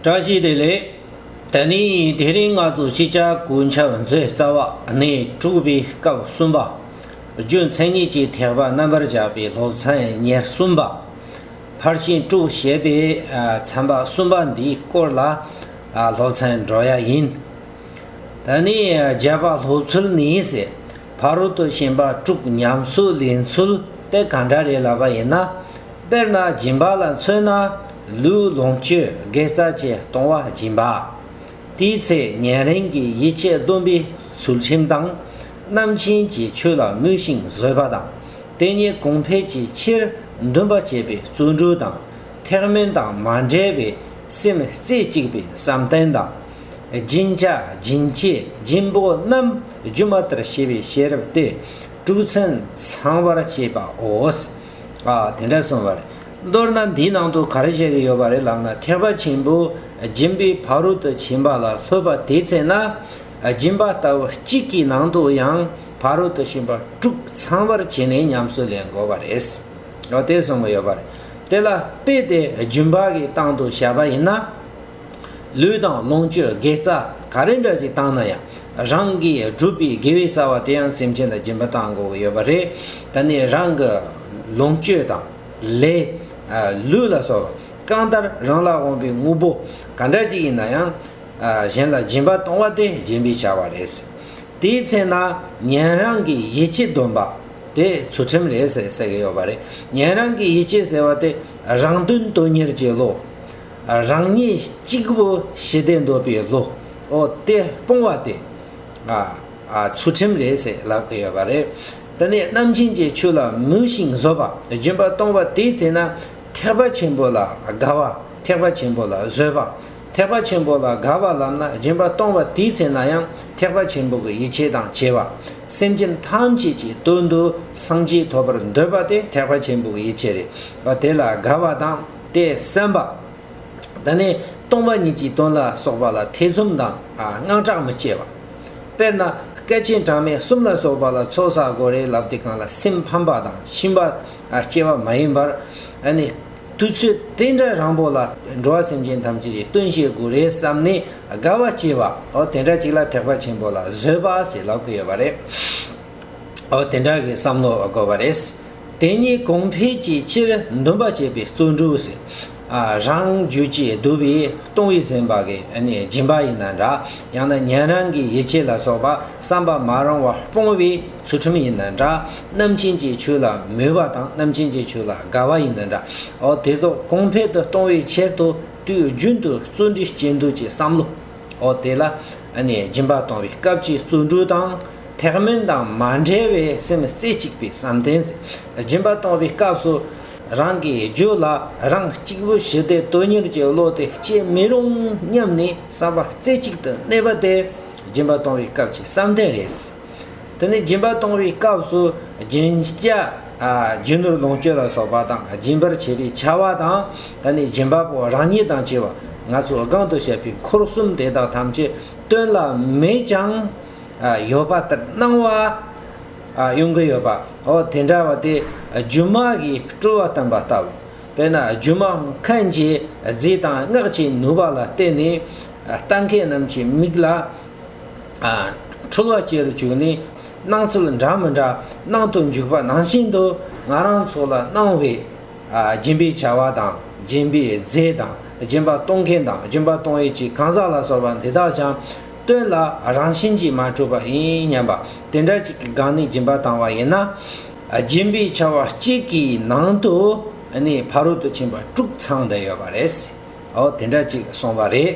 བཀྲ་ཤིས་བདེ་ལེགས། ད་ནི་དེ་རིང་ང་ཚོ་སྤྱི་ཁྱབ་སྐུ་ཚབ་མཛོད་རྩ་བ་ནས་དྲུག་པའི་སྐབས་གསུམ་པ། རྒྱུ་མཚན་ཉིད་ཀྱི་ཐེག་པ་རྣམ་པར་བཞག་པའི་སློབ་ཚན་ཉེར་གསུམ་པ། ཕར་ཕྱིན་དྲུག་ཞེས་པའི་ཚན་པ་གསུམ་པ་འདིའི་སྐོར་ལ་སློབ་ཚན་འགྲོ་ཡ་ཡིན། ད་ནི་བརྒྱད་པ་སློབ་ཚུལ་ནི་ཟེར། ཕ་རོལ་ཏུ་ཕྱིན་པ་དྲུག་ཉམས་གསོའི་ལས་འཚོལ་ཏེ་ག་འདྲ་རེད་ལབ་པ་ཡིན་ན། དཔེར་ན་སྦྱིན་པ་ལ་མཚོན་ན། ལུས་ལོངས་སྤྱོད་དགེ་རྩ་བཅས་གཏོང་བ་སྦྱིན་པ། དེའི་ཚེ་ཉན་རིང་གི་ཡིད་ཆེས་བསྡོམས་པས་ཚུལ་ཁྲིམས་དང། རྣམ་མཁྱེན་གྱི་ཆོས་ལ་མོས་ཤིང་བཟོད་པ་དང། དེ་ཉིད་གོང་འཕེལ་གྱི་ཕྱིར་འདུན་པ་བསྐྱེད་པས་བརྩོན་འགྲུས་དང་ཐེག་དམན་དང་མ་འདྲེས་པའི་སེམས་རྩེ་གཅིག་པའི་བསམ་གཏན་དང། སྦྱིན་བྱ་སྦྱིན་བྱེད་སྦྱིན་པོ་རྣམས་སྒྱུ་མ་ལྟར་ཤེས་པའི་ཤེས་རབ་སྟེ་དྲུག་ཚན་ཚང་བར་བྱེད་པའོ། ཨ། དེ་འདྲ་སོང་བ་རེད། མདོར་ན་འདིའི་ནང་དུ་ག་རེ་བཤད་ཀྱི་ཡོད་པ་རེད་ལབ་ན་ཐེག་པ་ཆེན་པོ་སྦྱིན་པའི་བ་རུ་དུ་བྱིན་པ་ལ་ལྷོད་པ་དེའི་ཚེ་ན་སྦྱིན་པ་ལྟ་བུ་གཅིག་གི་ནང་དུ་ཡང་བ་རུ་དུ་བྱིན་པ་དྲུག་ཚང་བར་བྱས་ནས་ཉམས་སུ་ལེན་དགོས་པ་རེད། དེ་སོང་གི་ཡོད་པ་རེད། དེ་ལ་དཔེ་དེ་རྒྱུན་བག་གི་སྟངས་དུ་བྱས་པ་ཡིན་ན། ལུས་དང་ལོངས་སྤྱོད་དགེ་རྩ་ག་རེ་འདྲ་ཞིག་བཏང་ན་ཡང་རང་གིས་བསྒྲུབས་པའི་དགེ་བའི་རྩ་བ་དེ་ཡང་སེམས་ཅན་ལ་སྦྱིན་པ་བཏང་དགོས་ཀྱི་ཡོད་པ་རེད། ད་ནི་རང་གི་ལོངས་སྤྱོད་དང། ལས། ལུས་ལ་སོགས་པ་གང་ལྟར་རང་ལ་དབང་བའི་དངོས་པོ་ག་འདྲ་ཅིག་ཡིན་ན་ཡང། གཞན་ལ་སྦྱིན་པ་གཏོང་བ་དེ་སྦྱིན་པའི་བྱ་བ་རེད། དེའི་ཚེ་ན་ཉན་རང་གི་ཡིད་ཆེས་འདོན་པ་དེ་ཚུལ་ཁྲིམས་རེད་ཟེར་གྱི་ཡོད་པ་རེད། ཉན་རང་གི་ཡིད་ཆེས་ཟེར་བ་དེ་རང་དོན་དོན་གཉེར་བྱེད་ལོ། རང་ཉིད་གཅིག་པུ་ཞི་བདེ་འདོད་པའི་བློ་དེ་སྤོང་བ་དེ། ཚུལ་ཁྲིམས་རེད་ཟེར་ལབ་ཀི་ཡོད་པ་རེད། དེ་ནས་རྣམ་མཁྱེན་གྱི་ཆོས་ལ་མོས་ཤིང་བཟོད་པ་སྦྱིན་པ་གཏོང་བ་དེའི་ཚེ་ན། ཐེག་པ་ཆེན་པོ་ལ་དགའ་བ་ཐེག་པ་ཆེན་པོ་ལ་བཟོད་པ། ཐེག་པ་ཆེན་པོ་ལ་དགའ་བ་ལམ་ན་སྦྱིན་པ་གཏོང་བ་དེའི་ཚེ་ན་ཡང་ཐེག་པ་ཆེན་པོ་གི་ཡིད་ཆེས་དང་བྱེད་པ། སེམས་ཅན་ཐམས་ཅད་ཀྱི་དོན་དུ་སངས་རྒྱས་ཐོབ་པར་འདོད་པ་དེ་ཐེག་པ་ཆེན་པོ་གི་ཡིད་ཆེས་རེད། དེ་ལ་དགའ་བ་དང། ཏེ་སེམས་པ། འདི་ནི་སྟོང་པ་ཉིད་ཀྱི་དོན་ལ་སོགས་པ་ལ་ཐེ་ཚོམ་དང་དངངས་སྐྲག་མི་སྐྱེ་བ། དཔེར་ན་སྐལ་ཆེན་གྲངས་མེད་གསུམ་ལ་སོགས་པ་ལ་ཚོགས་བསགས་སྒོ་རའི་ལབ་དེ་གང་ལ་སེམས་ཕམ་པ་དང་ཕྱིན་པ་སྐྱེ་བ་མ་ཡིན་པར། དུས་ཚོད་དེ་འདྲ་རང་པོ་ལ་འགྲོ་བ་སེམས་ཅན་ཐམས་ཅད་ཀྱི་སྟོན་བྱེད་སྒོ་རའི་བསམ་ནི་དགའ་བ་སྐྱེ་བའོ་དེ་འདྲ་ཅིག་ལ་ཐེག་པ་ཆེན་པོ་ལ་བཟོད་པ་ཟེར་ལབ་ཀི་ཡོད་པ་རེད། འོ་དེ་འདྲ་གི་བསམ་བློ་དགོས་པ་རེད། དེ་གཉིས་གོང་འཕེལ་གྱི་ཕྱིར་འདུན་པ་བྱེད་པའི་བརྩོན་འགྲུས་སེ། རང་རྒྱུད་ཀྱི་བསྡུ་བའི་ལྟུང་བའི་ཟིན་པ་གི་སྦྱིན་པ་ཡིན་ན་འདྲ། ཡང་ན་ཉན་རང་གི་ཡིད་ཆེས་ལ་སོགས་པ་བསམ་པ་མ་རུང་བར་སྤོང་བའི་ཚུལ་ཁྲིམས་ཡིན་ན་འདྲ། རྣམ་མཁྱེན་གྱི་ཆོས་ལ་མོས་པ་དང་རྣམ་མཁྱེན་གྱི་ཆོས་ལ་དགའ་བ་ཡིན་ན་འདྲ། འོ་དེ་ཚོ་གོང་འཕེལ་དུ་གཏོང་བའི་ཕྱིར་དུ་དུས་རྒྱུན་དུ་བརྩོན་འགྲུས་སྐྱེ་འདོད་ཀྱི་བསམ་བློ། འོ་དེ་ལ་སྦྱིན་པ་གཏོང་བའི་སྐབས་ཀྱི་བརྩོན་འགྲུས་དང། ཐེག་དམན་དང་མ་འབྲེལ་བའི་སེམས་རྩེ་གཅིག་པའི་བསམ་གཏན་སྦྱིན་པ་གཏོང་བའི་སྐབས་སུ། རང་གི་རྒྱུད་ལ་རང་གཅིག་པུ་ཞི་བདེ་དོན་གཉེར་གྱི་བློ་དེ་སྐྱེ་མི་རུང་སྙམ་ནས་བསམ་པ་རྩེ་གཅིག་ཏུ་གནས་པ་དེ་སྦྱིན་པ་གཏོང་བའི་སྐབས་ཀྱི་བསམ་གཏན་རེད། དེ་ནི་སྦྱིན་པ་གཏོང་བའི་སྐབས་སུ་རྒྱུན་བཅའ། རྒྱུ་ནོར་ལོངས་སྤྱོད་ལ་སོགས་པ་དང་སྦྱིན་པར་བྱེད་པའི་བྱ་བ་དང། ད་ནི་སྦྱིན་པ་པོ་རང་ཉིད་དང་བྱེ་བ་ང་ཚོ་སྒང་དུ་བཤད་པའི་འཁོར་གསུམ་དེ་དག་ཐམས་ཅད་སྟོན་ལ་མེད་ཀྱང། ཡོད་པ་ལྟར་སྣང་བ་ཡོང་གི་ཡོད་པ་འོ་དེ་འདྲ་བ་དེ་སྒྱུ་མ་གིས་སྤྲུལ་བ་སྟོན་པ་ལྟ་བུ། དཔེར་ན་སྒྱུ་མ་མཁན་གྱིས་རྫས་དང་སྔགས་ཀྱི་ནུས་པ་ལ་བརྟེན་ནས་ལྟ་མཁན་རྣམས་ཀྱི་མིག་ལ་འཁྲུལ་བ་སྐྱེ་རུ་བཅུག་ནས་སྣང་ཚུལ་འདྲ་མི་འདྲ་སྣང་དུ་འཇུག་པ་ནང་བཞིན་དུ་ང་རང་ཚོ་ལ་སྣང་བའི་སྦྱིན་པའི་བྱ་བ་དང་སྦྱིན་པའི་རྫས་དང་སྦྱིན་པ་གཏོང་མཁན་དང་སྦྱིན་པ་གཏོང་ཡུལ་གྱི་གང་ཟག་ལ་སོགས་པ་འདི་དག་ཀྱང་སྟོན་ལ་རང་བཞིན་གྱིས་མ་གྲུབ་པ་ཡིན་སྙམ་པ། དེ་འདྲ་གཅིག་གི་སྒང་ནས་སྦྱིན་པ་བཏང་བ་ཡིན་ན། སྦྱིན་པའི་ཆར་བ་གཅིག་གི་ནང་དུ་ནི་ཕ་རོལ་ཏུ་ཕྱིན་པ་དཀྲུགས་ཚང་དུ་ཡོད་པ་རེད། འོ་དེ་འདྲ་གཅིག་སོང་བ་རེད།